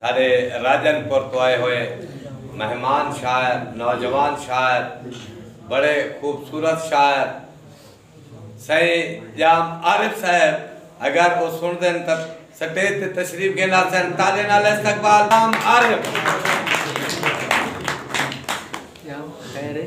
ساڈے راجن پور توں آئے ہوئے مہمان شاعر نوجوان شاعر بڑے خوبصورت شاعر سائیں جام عارف صاحب اگر وہ سن دین تو سٹیج تے تشریف گھن آسن تالے نال استقبال جام عارف خیر ہے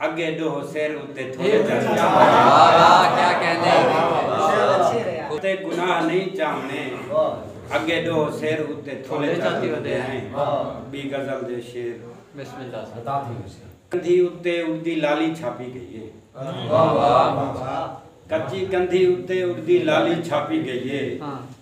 اگے ڈوہ سر اتے تھوڑے گناہ نہیں چاہنے اگے ڈوہ سر اتے تھوڑے چاہتی ہو دے ہیں بی غزل دے شیر بسم اللہ ستا تھی ہو سر کندھی اتے اردی لالی چھاپی گئی ہے کچی کندھی اتے اردی لالی چھاپی گئی ہے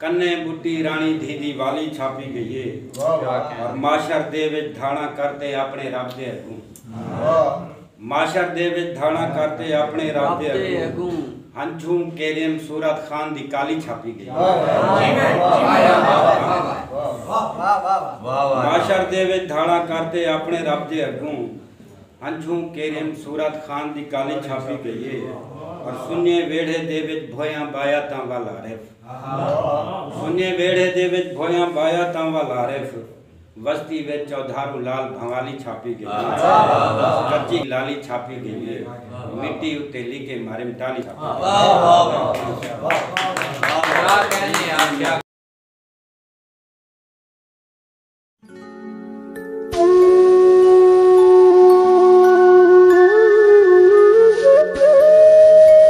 کنیں بٹی راݨی دھی دی والی چھاپی گئی ہے اور معاشر دے وچ دھاڑاں کر تے اپݨے رب دے اڳوں معاشر دے وچ دھاڑاں کر تے اپݨے رب دے اڳوں ہنجھوں کیریم صورت خان دی کالی چھاپی گئی معاشر دے وچ دھاڑاں کر تے اپݨے رب دے اڳوں ہنجھوں کیریم صورت خان دی کالی چھاپی گئی ہے اور سنیے ویڑھے دے وچ بھویاں بایا تاں ول عارف سنجھیں ویڑھے دے وچ بھویاں بایا تاں ول عارف وستی وچ چودھارو لال بھنوالی چھاپی گئی ہے کچی لالی چھاپی گئی ہے مٹی اتے لیکے مریم ٹالی چھاپی گئی ہے۔